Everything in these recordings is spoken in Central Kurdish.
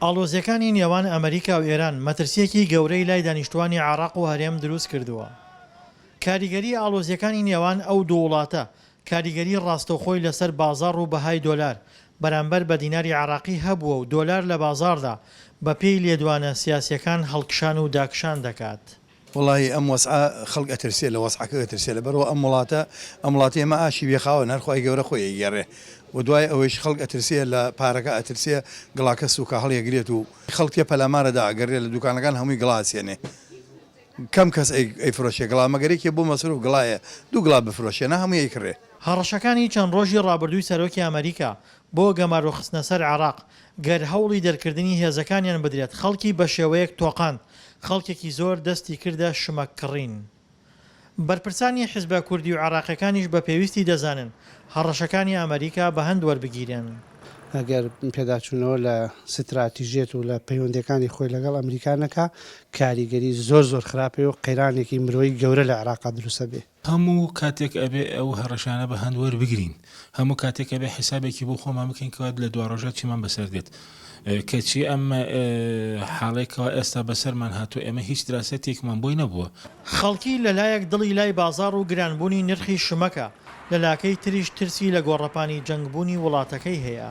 ئاڵۆزییەکانی نێوان ئەمریکا و ئێران مەترسییەکی گەورەی لای دانیشتووانی عێراق و هەرێم دروست کردووە. کاریگەریی ئاڵۆزییەکانی نێوان ئەو دوو وڵاتە کاریگەریی ڕاستەوخۆی لەسەر بازاڕ و بەهای دۆلار بەرامبەر بە دیناری عێراقی هەبووە و دۆلار لە بازاڕدا بەپێی لێدوانە سیاسییەکان هەڵکشان و داکشان دەکات. وەڵاهی ئەم وەزعە خەڵک ئەترسێ لە وەزعەکە ئەترسێ لەبەرئەوە ئەم وڵاتە ئەم وڵاتی ئێمە ئاشی بێ خاوەن هەر خوای گەورە خۆی ئەیگێڕێ و دوای ئەوەیش خەڵک ئەترسێ لە پارەکە ئەترسێ گڵاکە سووکە هەڵیەگرێت و خەڵک تێ پەلامارە دا ئەگەڕێ لە دووکانەکان هەمووی گڵا ئەچێنێ کەم کەس ئەیفرۆشێ گڵا مەگەر یەکێ بۆ مەسرووف گڵایە دوو گڵا بفرۆشێ نا هەمووی ئەیکڕێ. هەڕەشەکانی چەند ڕۆژی ڕابردووی سەرۆکی ئەمەریکا بۆ گەمارۆخستنە سەر عێراق، گەر هەوڵی دەرکردنی هێزەکانیان بدرێت، خەڵکی بەشێوەیەک تۆقاند، خەڵکێکی زۆر دەستی کردە شمەک کڕین. بەرپرسانی حزبە کوردی و عێراقیەکانیش بە پێویستی دەزانن هەڕەشەکانی ئەمەریکا بە هەند وەربگیرێن. ئەگەر پێداچوونەوە لە ستراتیژیەت و لە پەیوەندیەکانی خۆی لەگەڵ ئەمریکا نەکا، کاریگەری زۆر زۆر خراپی و قەیرانێکی مرۆیی گەورە لە عێراقا دروست ئەبێ. هەموو کاتێک ئەبێ ئەو هەڕەشانە بە هەند وەربگرین، هەموو کاتێک ئەبێ حیسابێکی بۆ خۆمان بکەین کەوا لە دواڕۆژا چیمان بەسەر دێت. کەچی ئەم حاڵەی کەوا ئێستا بەسەرمان هاتووە ئێمە هیچ دراسەتێکمان بۆی نەبووە. خەڵکی لە لایەک دڵی لای بازاڕ و گرانبوونی نرخی شمەکە، لە لاکەی تریش ترسی لە گۆڕەپانی جەنگبوونی وڵاتەکەی هەیە.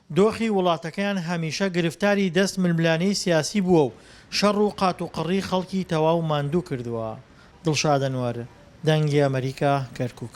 دۆخی وڵاتەکەیان هەمیشە گرفتاری دەست ململانێی سیاسی بووە و شەڕ و قات و قڕی خەڵکی تەواو ماندوو کردووە. دڵشاد ئەنوەر، دەنگی ئەمەریکا، کەرکووک.